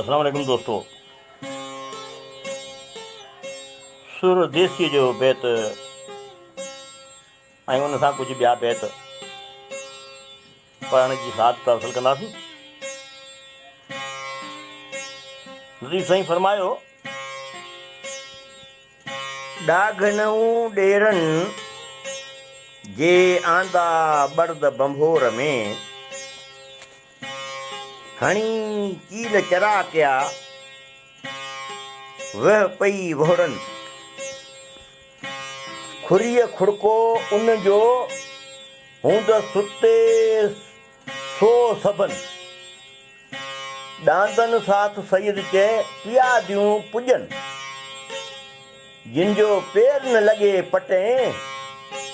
اسلام عليڪم دوستو سر ديسيء جو بيت ۽ ان سان ڪجهه ٻيا بيت پڙهڻ جي سعادت حاصل ڪنداسين لطيف سائين فرمايو ڏاگهنئون ڏيرن جي آندا ٻڙد ڀنڀور ۾ هڻي چيل چرا ڪيا، ويهه پئي وهڙن. کوريء کڙڪو ان جو، هوندس ستي سو سڀن. ڏاندن ساٿ سيد چئي، پياديون پڄن. جن جو پير نه لڳي پٽين،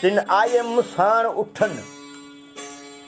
تن آيم ساڻ اٺن.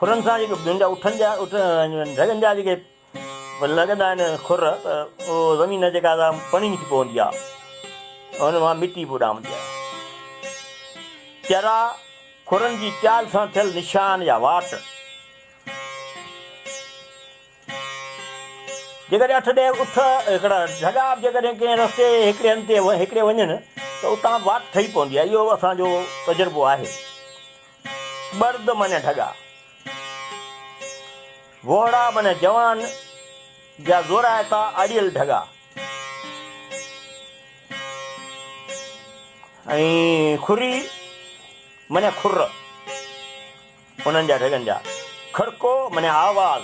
کرن سان جيڪي ٻين جا اٺن جا ڍڳن جا جيڪي لڳندا آهن کر ته اهو زمين جيڪا سا پڻي ٿي پوندي آهي ان مان مٽي به اڏامندي آهي چرا کرن جي چال سان ٿيل نشان يا واٽ جيڪڏهن اٺ ڏهه اٺ هڪڙا جهڳا به جيڪڏهن ڪنهن رستي هڪڙي هنڌ تي هڪڙي وڃن ته اتان واٽ ٺهي پوندي آهي. اهو اسان جو تجربو آهي. ٻرد معنيٰ ڍڳا. وهڙا معنيٰ جوان جا زورائتا اڙيل ڍڳا. ۽ کري معنيٰ کر. انهن جا ڍڳن جا. کڙڪو معني آواز،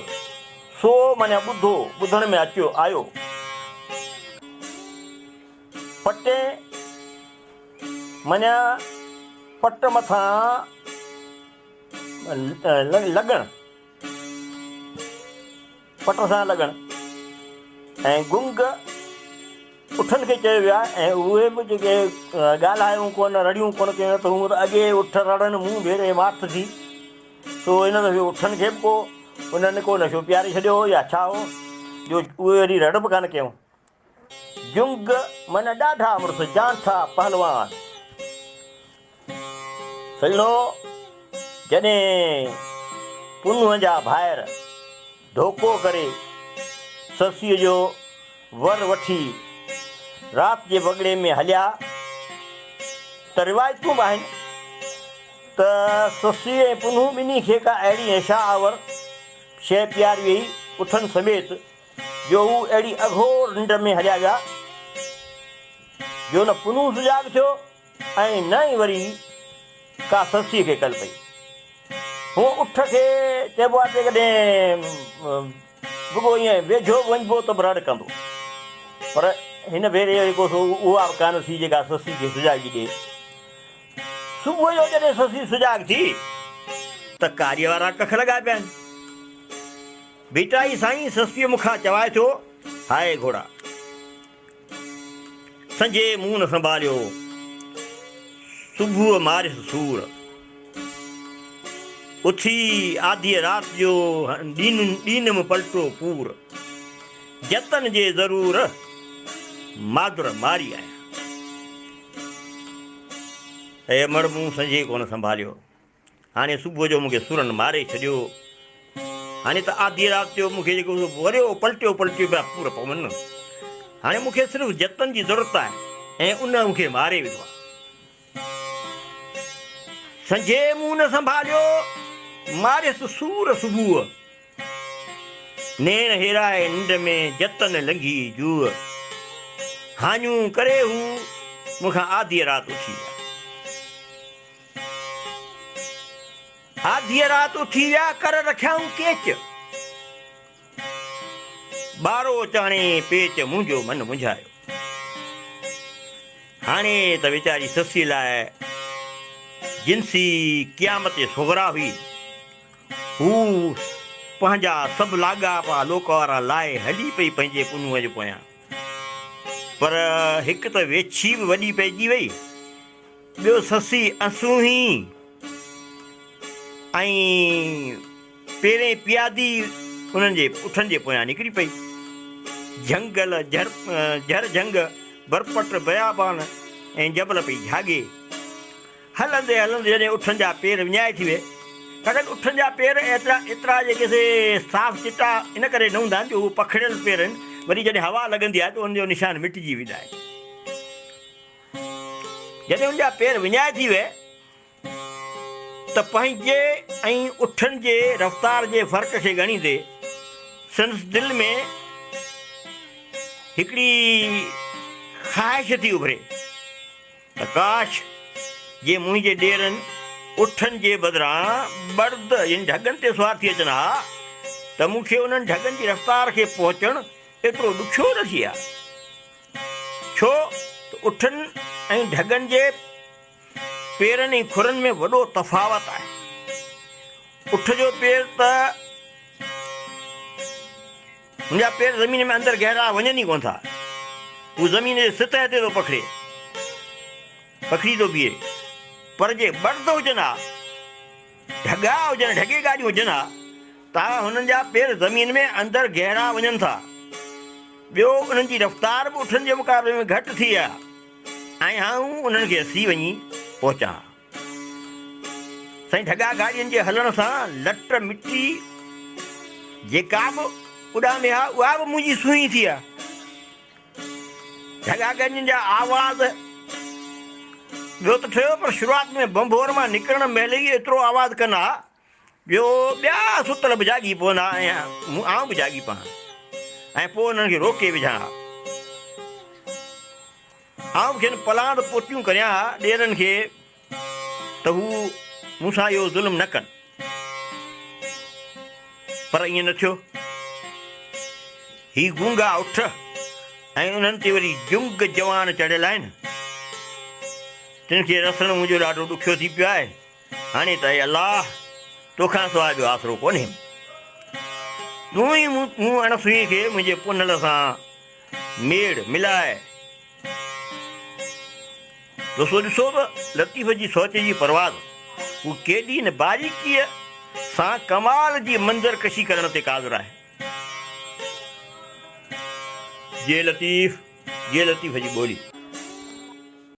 سو معني ٻڌو، ٻڌڻ ۾ اچيو، آيو. پٽين معني پٽ مٿان لڳڻ. پٽ سان لڳڻ ۽ گنگ اٺن کي چيو ويو آهي ۽ اهي به جيڪي ڳالهايون ڪونه رڙيون ڪونه ڪيون نه ته هونء ته اڳي اٺ رڙن مون ڀيري واٿ ٿي سو هن دفعي اٺن کي به ڪو انهن ڪو نشو پياري ڇڏيو هو يا ڇا هو جو اهي وري رڙ به ڪانه ڪيون. جنگ من ڏاڍا مڙس جان ٿا پهلوان سڄڻو جڏهن پنهونء جا ڀائر ڌوڪو ڪري سسيء جو ور وٺي رات جي وڳڙي ۾ هليا ته روايتون به آهن ته سسي ۽ پنهون ٻنهي کي ڪا اهڙي نشا آور شيء پياري ويئي اٺن سميت جو هو اهڙي اگهور ننڊ ۾ هليا ويا جو نه پنهون سجاڳ ٿيو ۽ نه ئي وري ڪا سسيء کي ڪل پئي. هونء اٺ کي چئبو آهي ته جيڪڏهن رڳو ائين ويجهو به وڃبو ته به رڙ ڪندو. پر هن ڀيري جو جيڪو سو اها به ڪانه ٿي جيڪا سسيء کي سجاڳي ڏئي. صبح جو جڏهن سسي سجاڳ ٿي ته ڪاريء وارا ڪک لڳا پيا آهن. ڀٽائي سائين سستيء مون کان چوائي ٿو، هاء گهوڙا! سنجهي منهن نه سنڀاليو، صبح ماريس سور. اٿي آڌيء رات جو ڏينم پلٽو پور. جتن جي ضرور مادر ماري آيان. اي امڙ مون سنجهي ڪونه سنڀاليو. هاڻي صبح جو مون کي سورن ماري ڇڏيو. هاڻي ته آڌيء رات جو مون کي جيڪو وريو پلٽيو پلٽيو پيا پور پون. هاڻي مون کي صرف جتن جي ضرورت آهي ۽ ان مون کي ماري وڌو آهي. سنجهي منهن نه سنڀاليو، ماريس سور صبح. نيڻ هيرائي ننڊ ۾ جتن لنگهي جوء. هاڃون ڪري هو مون کان آڌيء رات اٿي ويا. آڌيء رات اٿي ويا، ڪر رکيائون ڪيچ. ٻارو چاڻي پيچ، منهنجو من منجهايو. هاڻي ته ويچاري سسيء لاء جنسي قيامت صغريٰ هئي. هوء پنهنجا سڀ لاڳاپا لوڪوارا لاهي هلي پئي پنهنجي پنهونء جي پويان. پر هڪ ته ويڇي به وڏي پئجي وئي، ٻيو سسي اسونهي ۽ پيرين پيادي انهن جي اٺن جي پويان نڪري پئي. جهنگل، جهر جهنگ، برپٽ، بيابان ۽ جبل پئي جهاڳي. هلندي هلندي جڏهن اٺن جا پير وڃائي ٿي ويئي، ڇاڪاڻ اٺن جا پير ايترا جي ڪي سي صاف چٽا ان ڪري نه هوندا آهن جو هو پکڙيل پير آهن، وري جڏهن هوا لڳندي آهي ته انهن جو نشان مٽجي ويندا آهن. جڏهن ان جا پير وڃائي ٿي ويئي ته پنهنجي ۽ اٺن جي رفتار جي فرق کي ڳڻيندي سندس دل ۾ هڪڙي خواهش ٿي اڀري ته ڪاش جي منهنجي ڏيرن اٺن جي بدران برد يعني ڍڳن تي سوار ٿي اچن ها ته مون کي انهن ڍڳن جي رفتار کي پهچڻ ايترو ڏکيو نه ٿئي ها ڇو ته اٺن ۽ ڍڳن جي پيرن ۽ کورن ۾ وڏو تفاوت آهي. اٺ جو پير ته هن جا پير زمين ۾ اندر گهرا وڃن ئي ڪونه ٿا. هو زمين جي سطح تي ٿو پکڙي پکڙي ٿو بيهي. پر جي ٻرد هجن ها. ڍڳا هجن، ڍڳي گاڏيون هجن ها ته هنن جا پير زمين ۾ اندر گهرا وڃن ٿا. ٻيو انهن جي رفتار به اٺن جي مقابلي ۾ گهٽ ٿي آ ۽ آئون انهن کي سي وڃي پهچان ها. سائين ڍڳا گاڏين جي هلڻ سان لٽ مٽي جيڪا به اڏامي ها اها به منهنجي سونهين ٿي آ. جهڳا گجن جا آواز ٻيو ته ٺهيو پر شروعات ۾ ڀنڀور مان نڪرڻ مهل ئي ايترو آواز ڪن ها جو ٻيا ستل به جاڳي پون ها ۽ آئون به جاڳي پهان ۽ پوء انهن کي روڪي وجهان ها آئون کين پلاند پوتيون ڪريان ها ڏيرن کي ته هو مون سان اهو ظلم نه ڪن. پر ائين نه ٿيو. هي گونگا اٺ ۽ انهن تي وري جنگ جوان چڙهيل آهن. تن کي رسڻ منهنجو ڏاڍو ڏکيو ٿي پيو آهي. هاڻي ته اي الله! تو کان سواء ٻيو آسرو ڪونهي. تون ئي مون اڻ سوئي کي منهنجي پونهل سان ميڙ ملائي تسو ڏسو ته لطيف جي سوچ جي پرواز هو ڪيڏي نه باريڪيء سان ڪمال جي منظر ڪشي ڪرڻ تي قادر آهي. جي لطيف جي لطيف جي ٻولي.